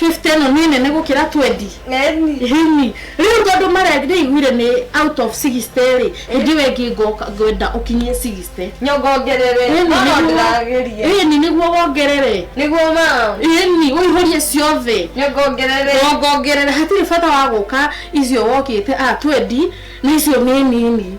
50 ĩno nĩ nene gũkĩra 20 Eni. Ĩni. Rĩu tondũ mara nĩ iguire nĩ out of 60 rĩ, hĩndĩ ĩyo ĩngĩ ngoka ngwenda ũkinyie 60. Nyongongerere. Ĩni No no nĩguo- ndĩrageria. ĩni nĩguo wongerere. Nĩguo ma. Ĩni ũihũrie ciothe. Nyongongerere. Wongongerere hatirĩ bata wa gũka icio wokĩte a 20 na icio nĩ nini.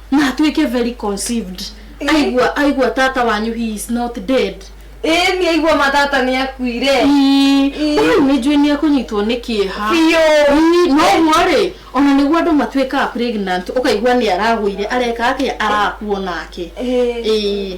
na atuĩke very conceived aigua aigua tata wanyu he is not dead ĩĩ nĩ aigua matata nĩ akuire ũyũ nĩ njũĩ nĩ akũnyitwo nĩ kĩeha biũ Ii, noguo rĩ ona nĩguo andũ matuĩkaga pregnant ũkaigua nĩ aragũire areka atĩa arakua nake Ĩĩ. Ĩĩ.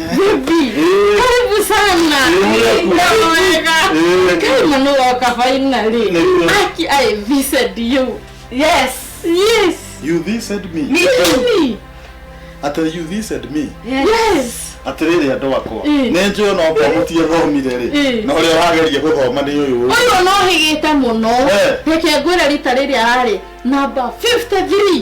Baby, karibu sana. Naweka. Kai manu waka finally. Aki I visited you. Yes. Yes. You this said me. Me too. Ata you this said me. Yes. atĩrĩrĩ andũ akwa nĩ njũĩ no ngwamutie thomire rĩ na ũrĩa wageria gũthoma nĩ ũyũ ũyũ no hĩgĩte mũno reke ngwĩre rita rĩrĩa ararĩ namba 53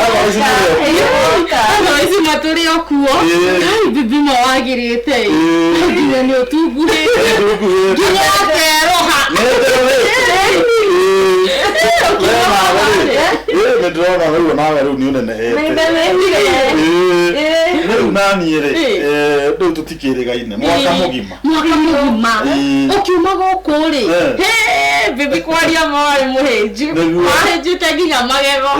Otherwise nĩwe. athawaici matũrĩ o kuo Ĩĩ. kai bibimo wagĩrĩte Ĩĩ. nginya nĩ ũtunguhĩ Ndũkuhĩte. nginya ateroha nĩndĩrona rĩu onawe rĩu nĩ ũnenehete rĩu naniĩ rĩ Ĩ. eh, rĩu tũtikĩrĩgaine mwaka Ĩ. mũgima mwaka mũgima Eh. ũkiuma gũkũ rĩ Eh. Hey, bibi kwaria mwarĩ mũhĩnju Nĩguo. ahĩnjĩte nginya magego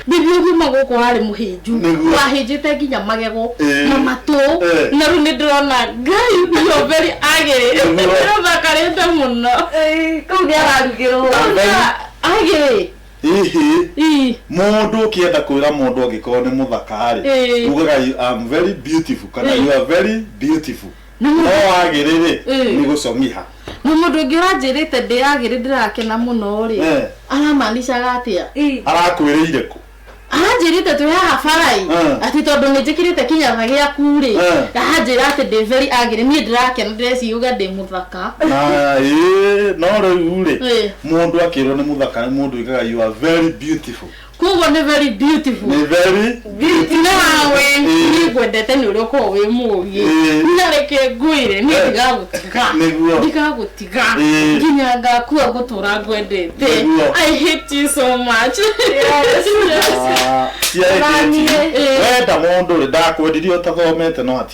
bibi ũgiuma gũkũ warĩ mũhĩnju Nĩguo. wahĩnjĩte nginya magego Eh. na matũ Eh. na rĩu nĩ ndĩrona ngai bioveri agĩrĩ Nĩguo. ndĩrothakarĩte mũno kau nĩ ararugĩrwo agĩrĩ Hihi Ii. mũndũ ũkĩenda kwĩra mũndũ angĩkorwo nĩ mũthaka-rĩ, Ĩĩ. ugaga you am very beautiful kana Ĩĩ. you are very beautiful. Na No mũndũ- wagĩrĩ-rĩ, Ĩĩ. nĩ gũcong'iha. Na mũndũ ũngĩ ũranjĩrĩte ndĩagĩrĩ ndĩrakena mũno rĩ Eh. aramanicaga atĩa Ii. Arakwĩrĩire kũ? aranjĩrĩte twĩ haha barai Eh. atĩ tondũ nĩ njĩkĩrĩte kĩnyatha gĩaku rĩ Eh. aranjĩra atĩ ndĩ very agĩrĩ niĩ ndĩrakena ndĩreciuga ndĩ mũthaka ka na ĩ no rĩu rĩ Ĩ. mũndũ akĩrwo nĩ mũthaka mũndũ ĩkaga you are very beautiful koguo nĩ very beautiful nĩ very nawe niĩ ngwendete nĩ ũrĩa ũkoragwo wĩ mũũgĩ Ĩ. na reke ngwĩre niĩ Ĩ. ndigagũtiga Nĩguo. ndigagũtiga Ĩ. nginya ngakua ngũtũra ngwendete Nĩguo. i hate you so much Ah, cia Naniĩ. ĩkĩti wenda mũndũ rĩ ndakwendirie ũtathomete no hati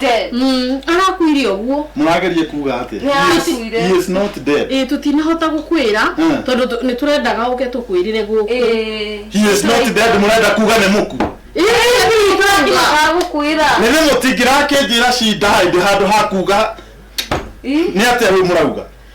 dead Mm, arakuire ũguo mũrageria kuga atĩa Nĩ He is- arakuire. he is not dead ĩĩ tũtinahota gũkwĩra Mm. tondũ tũ- nĩ tũrendaga ũke tũkwĩrire gũkũ Eh. he is not dead mũrenda kuga nĩ mũku Ĩĩ, ĩĩ, tũrendaga. Ndimaga gũkwĩra nĩ nĩ mũtingĩrakĩnjĩra cinda hĩndĩ handũ ha kuga Ih, nĩ atĩa rĩu mũrauga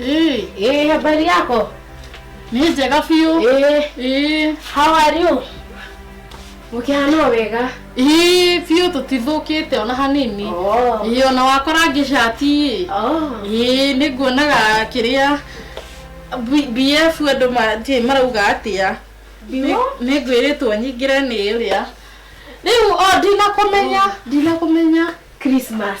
Eh, Eh, habari yako? ni njega biũ. Eh, Eh, how are you? Mũkĩhana wega. eh, biũ tũtithũkĩte ona hanini. Oh. Eh, ona wakora ngĩcati. Oh. Eh, nĩ nguonaga kĩrĩa B- BF andũ ma- ti- marauga atĩa. Biũ? Nĩ ngwĩrĩtwo nyingĩre nĩ ũrĩa. Rĩu o ndinakũmenya, ndinakũmenya. Christmas.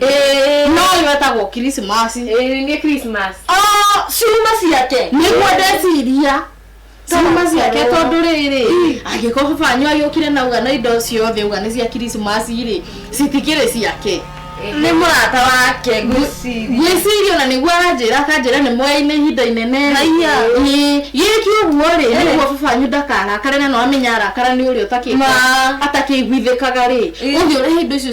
Ĩĩ. no yo etagwo kirisimasi Ĩĩ, nĩ Christmas. Oh, ciuma ciake nĩguo ndeciria ciuma ciake Tokorwo. tondũ rĩrĩ angĩkorwo baba wanyu agĩũkire na uga na indo ciothe uga nĩ cia kirisimasi rĩ citikĩrĩ ciake Nĩ mũrata wake ngwĩciria. gwĩciria ona nĩguo aranjĩra akanjĩra nĩ moyaine ihinda inene Haiya. Ĩĩ, gĩkĩ ũguo rĩ Eh. nĩguo baba wanyu ndakarakare na no amenya arakara nĩ ũrĩa ũtakĩigua- Ma. atakĩiguithĩkaga rĩ Ĩĩ. ũthiĩ ũrehe indo icio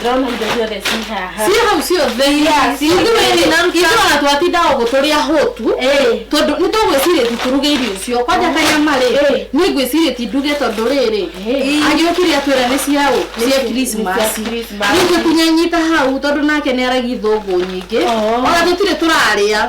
ndĩrona indo ciothe ci haha ciĩ hau ciothe Yeah, ciĩ Ithuĩ hau. nĩ na- ithuĩ ona twatindaga ũguo tũrĩ ahũtu Ĩĩ. tondũ nĩ tũgwĩciria ti tũruge irio icio kwanja kanyama rĩ Ĩĩ. nĩ ngwĩciria ti nduge tondũ rĩrĩ Ĩĩ. agĩũkire atwĩra nĩ ciaũ cia cia krismasi Christmas. rĩu tũtinyanyita hau tondũ nake nĩ aragi thũngũ nyingĩ Oh. ona tũtirĩ tũrarĩa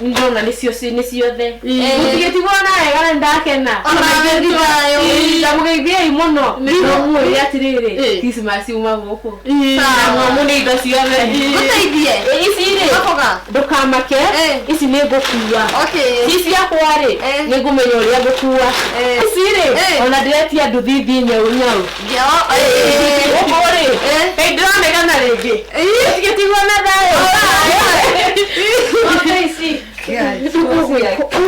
ndona nĩcio ci- nĩ ciothe mũtigĩtigwo na wega na ndakena ndamũgeithiei mũno nomũĩ atĩrĩrĩ Ĩ. Christmas uma gũkũ namu nĩ indo ciothe gũteithie Ĩ, ici rĩ gakoga ndũkamake Eh. ici nĩ ngũkua okay ici ciakwa rĩ Eh. nĩ ngũmenya ũrĩa ngũkua Eh. ici rĩ Eh. ona ndĩretia nduthi thiĩ nyau nyau ũkũrĩ ndĩramegana rĩngĩ tigĩtigwo na thayũ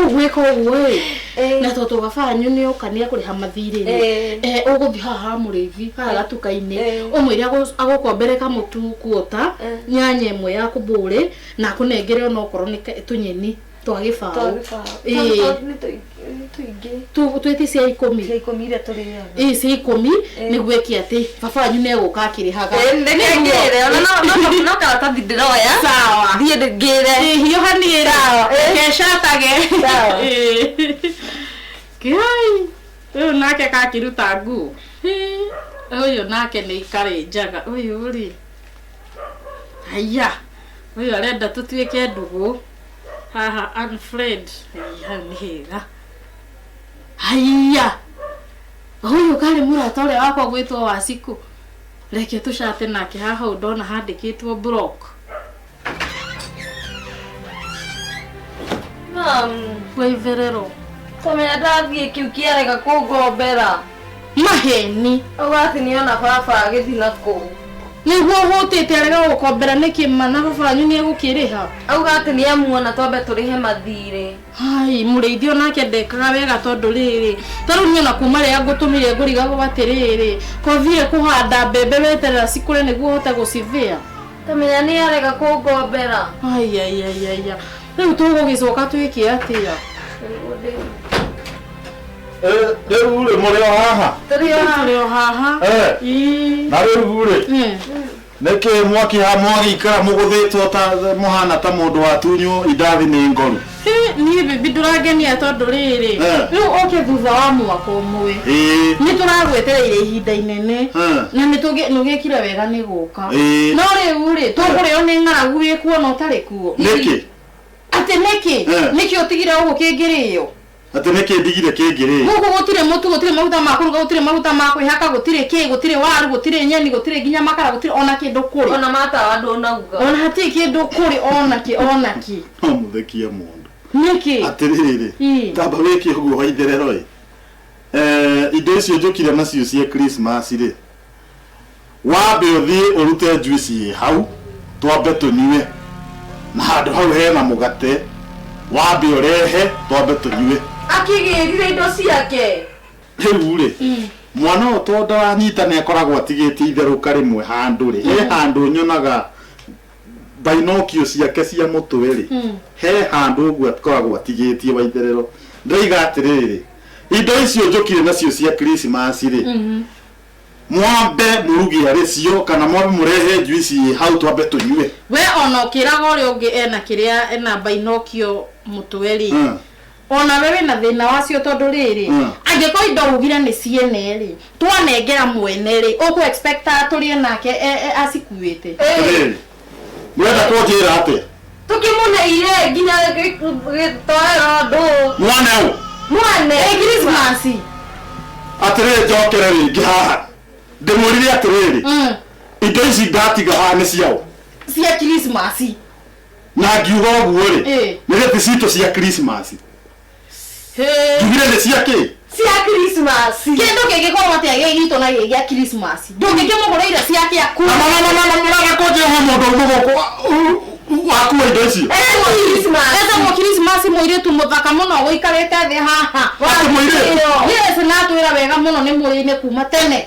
ũgwĩka ũguo ĩ na tondũ gabanyu nĩ ũka nĩ ekũrĩha mathirĩ Eh. ũgũthiĩ haha ha mũrĩithi haha gatuka-inĩ Eh. ũmwĩre agũ- agũkombere kamũtu kuota nyanya ĩmwe ya kũmbũrĩ na akũnengere ona okorwo nĩ ka- tũnyeni twa gĩbaũ Ĩĩ. Tu- twĩti cia ikũmi ĩ cia ikũmi nĩguo ĩki atĩ baba wanyu nĩ egũka akĩrĩhaga karatathi ndĩroya sawa thiĩ ndĩngĩre hiũhanĩra kecatage kiai ũyũ nake kakĩruta nguo Hĩ, ũyũ nake nĩ ikarĩ njaga ũyũ rĩ haiya ũyũ arenda tũtuĩke ndũgũ haha unfriend Ĩĩ, hau nĩ hega haiya huyu karĩ mũrata ũrĩa wakwa gwĩtwo wacikũ reke tũcate nake haha ũũ ndona handĩkĩtwo block Mami, wĩverero tũmenya ndathiĩ kĩu kĩarega kũngombera maheni ũgati nĩ ona baba agĩthi na kũu nĩguo hũtĩte arega gũkombera nĩkĩ mana baba wanyu nĩ egũkĩrĩha auga atĩ nĩ amuona twambe tũrĩhe mathirĩ hai mũrĩithi onake ndekaga wega tondũ rĩrĩ tarĩu niĩ ona kuma rĩrĩa ngũtũmire ngũrigagwo atĩrĩrĩ kothire kũhanda mbembe weterera cikũre nĩguo hote gũcithĩa tamenya nĩ arega kũngombera aiaiaiaia rĩu tũgũgĩcoka twĩke atĩa rĩu-rĩ mũrĩ o haha Tũrĩ o haha. Tũrĩ o haha. Eh, Ii. na rĩu-rĩ Mm. nĩkĩ mwakiha mwagĩikara mũgũthĩtwo ta mũhana ta mũndũ watunywo indathi nĩ ngoru Hĩ, niĩ bibi ndũrangenia tondũ rĩrĩ Eh. rĩu ũke thutha wa mwaka ũmwe ĩĩ nĩ tũragwetereire ihinda inene Eh. na nĩ tũgĩ- nĩ ũgĩkire wega nĩ gũka Ĩĩ. no rĩu rĩ tũkũrĩo nĩ ng'aragu wĩ kuo na ũtarĩ kuo nĩkĩ atĩ nĩkĩ Eh. nĩkĩ ũtigire ũguo kĩngĩrĩo Atĩ nĩ kĩĩ ndigire kĩngĩrĩo? Gũkũ gũtirĩ mũtu, gũtirĩ maguta ma kũruga, gũtirĩ maguta ma kwĩhaka, gũtirĩ kĩĩ, gũtirĩ waru, gũtirĩ nyeni, gũtirĩ nginya makara, gũtirĩ o na kĩndũ kũrĩ. O na matawa ndũnaguga. O na hatirĩ kĩndũ kũrĩ o na kĩ, o na kĩ. No mũthekie mũndũ. Nĩkĩ? Atĩrĩrĩ, Ii. tamba wĩke ũguo wa itherero-ĩ. Ee, indo icio njũkire nacio cia Krismasi-rĩ. wambe ũthiĩ ũrute juice ĩ hau twambe tũnyue na handũ hau hena mũgate wambe ũrehe twambe tũnyue akĩgĩrire indo ciake rĩu rĩ mwana ũyũ tondũ ndaranyita nĩ akoragwo atigĩtie itherũka rĩmwe handũ rĩ he handũ nyonaga bainokio ciake cia mũtwe rĩ he handũ ũguo akoragwo atigĩtie waitherero ndaiga atĩrĩrĩ indo icio njũkire nacio cia krismasi rĩ Mwambe mũrugĩre rĩcio kana mwambe mũrehe njuici hau twambe tũnyue. We ona ũkĩraga ũrĩa ũngĩ ena kĩrĩa ena mbainokio mũtwe rĩ Mm. ona we wĩna thĩna wacio tondũ rĩrĩ Mm. angĩkorwo indo ugire nĩ ciene rĩ twanengera mwene rĩ ũkũ expect atũrĩe nake e- e- acikuĩte Atĩrĩrĩ, Mũrenda kũnjĩra atĩa? Tũkĩmũneire nginya gĩ- gĩtoero ndũ. Mwane ũ? Mwane. Ĩ Christmas. Atĩrĩrĩ njokere rĩngĩ haha. Ndĩmũrire atĩrĩrĩ, Mm. indo ici ndatiga haha nĩ ciaũ? Cia Christmas. Na ngiuga ũguo-rĩ, Ĩ. nĩ gĩbicito cia Christmas. Hey. Njugire nĩ cia kĩ? cia Christmas kĩndũ kĩngĩkorwo atĩa gĩ gitũ na gĩ gĩa Christmas ndũngĩkĩmũgũrĩire cia kĩa kũ Na mama mama mũraga kũnjĩ he mũndũ ũmwe gũkũ wakua indo icio. Ete mũ Christmas mũirĩtu mũthaka mũno gũikarĩte thĩ haha Atĩ mũirĩtu? Yes na atwĩra wega mũno nĩ mũrĩinĩ kuma tene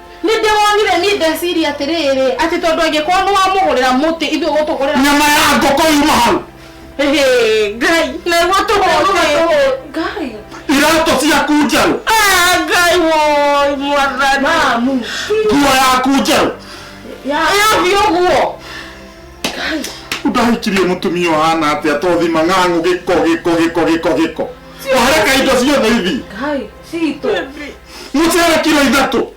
nĩ ndĩwonire niĩ ndeciria atĩrĩrĩ atĩ tondũ angĩkorwo nĩ wamũgũrĩra mũtĩ ithuĩ gũtũgũrĩra nyama ya ngũkũ yuma hau Hĩhĩ, ngai naigua tũhũte ngai iratũ ciaku njerũ Ah, ngai woi mwathani mamu nguo yaku njerũ ĩyo biũ guo ndahikirie mũtumia ũhana atĩa tothima ng'ang'u gĩko gĩko gĩko gĩko gĩko wareka indo ciothe ithi ngai citũ mucere kiro ithatu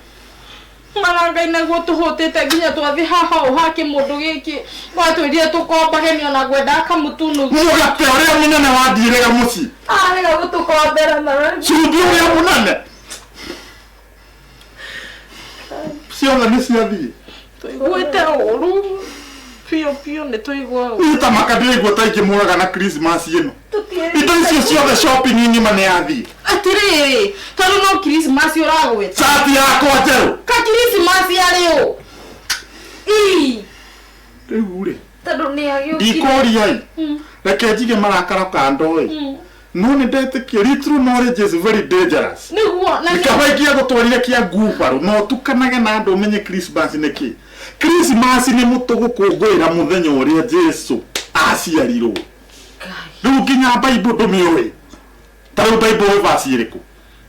marangai naguo tuhutite nginya twathi haha o ha kimundu giki watwirire tukombage ni ona ngwenda akamutunu mugate uria munene wathiirega mucii arega gutukombera na cumbĩ ũrĩa mũnene ciothe nĩ ciathiĩ tũiguĩte ũru biũ biũ nĩ tũigua ũru niĩ ta maka ndĩraigua ta ingĩmũraga na christmas ĩno indo icio ciothe shopping ng'ima nĩ yathiĩ atĩrĩrĩ tondũ no kirismasi ũragwĩta cati yakwa njerũ ka kirismasi arĩ ũ ii rĩu rĩ tondũ nĩ agĩũkire ndikũria-ĩ reke njige marakara kando-ĩ none ndetĩkia ritro no rĩ jesu very dangerous nĩguo na nĩ- kaba ikia gũtwarire kĩa ngubarũ no tukanage na andũ ũmenye krismas nĩ kĩ krismas nĩ mũtũ gũkũngũĩra mũthenya ũrĩa jesu aciarirwo rĩu nginya baibo ndũmĩũĩ ta rĩu baibo ũĩ basi ĩrĩkũ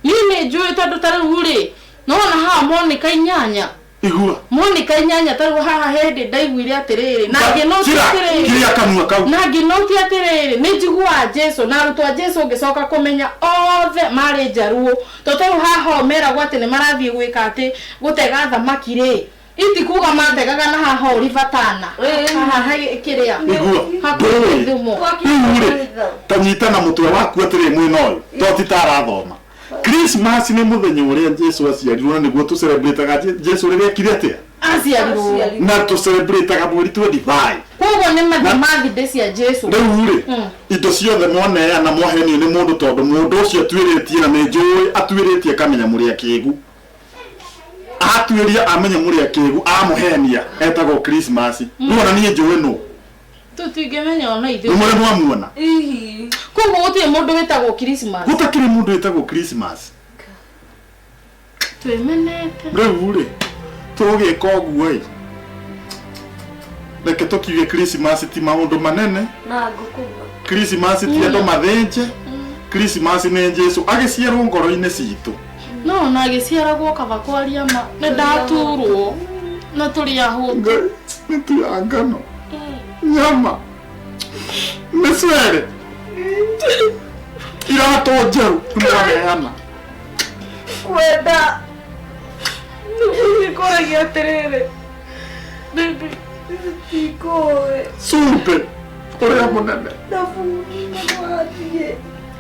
niĩ nĩ njũĩ tondũ ta rĩu rĩ nona haha moneka inyanya igua Monica inyanya tarwo haha hindi ndaiguire atiriri na nginoti Kira- atiriri kiria kanua kau na nginoti atiriri ni njiguaga jesu na arutwo a jesu ngicoka kumenya othe mari njaruo to tarwo haha o meragwo ati ni marathie gwika ati gutega thamaki ri itikuga mategaga na haha uri vatana haha he- kiria igua hakuhi ndũĩ thumo riu rĩ tanyita na mũtwe waku atĩrĩ mwĩna ũyũ to ti ta arathoma Christmas nĩ mũthenya ũrĩa Jesu aciarirwo na nĩguo tũcelebrataga Je- Jesu rĩrĩa ekire atĩa aciarirwo Aciarirwo. na tũcelebrataga mweri 25 koguo nĩ matha mathinde cia jesu rĩu rĩ Mm. indo ciothe mwaneana mwahenio nĩ mũndũ tondũ mũndũ ũcio atuĩrĩtie na nĩ njũĩ atuĩrĩtie akamenya mũrĩa kĩgu atuĩria amenya mũrĩa kĩgu amũhenia etagwo krismasi kuona niĩ njũĩ nũ Tũ tingĩmenya ona nĩ ithuĩ. mũrĩ mwamuona Hihi. Koguo gũtirĩ mũndũ wĩtagwo Christmas. gũtakĩrĩ mũndũ wĩtagwo Christmas Twĩmenete. rĩu rĩ tũgĩka ũguo ĩ reke tũkiuge Christmas ti maũndũ manene Na ngũkũma. Christmas ti andũ mathĩnje Christmas nĩ Jesu agĩciarwo ngoro-inĩ citũ no ona agĩciaragwo kaba kwaria ma nĩ ndaturwo na tũrĩ ahũtu ngai nĩ tu ya ngano nyama mĩcere iratũ njerũ nĩwaneana kwenda nĩkũragia atĩrĩrĩ bĩbĩ ikũĩ cumbĩ ũrĩa mũnene na buni nĩwathiĩ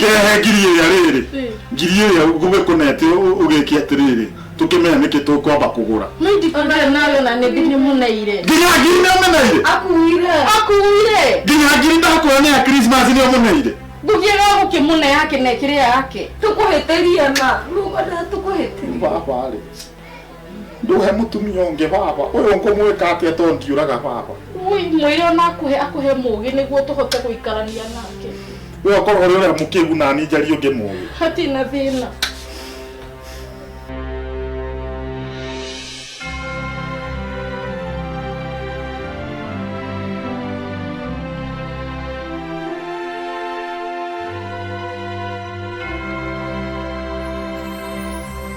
kĩrehe ngiri ĩrĩa rĩrĩ ngiri ĩrĩa ngume kũnete ũgĩki atĩrĩrĩ tukimenya niki tukwamba kugura nginya ngiri nĩũmeneire nginya ngiri ndakuona nĩ ya krismas nĩũmeneire ndugire gũkĩmũne yake na ĩkĩrĩa yake tũkũhĩtĩria na rugana tũkũhĩtĩria baba rĩ nduhe mutumia ungi baba uyu ngumwika atia to ndiuraga baba Ui, mwĩre ona akũhe akũhe mũgĩ nĩguo tũhote gũikarania nake we okorwo ri uria mukigu na ni njari ungi mugi hatirĩ na thĩna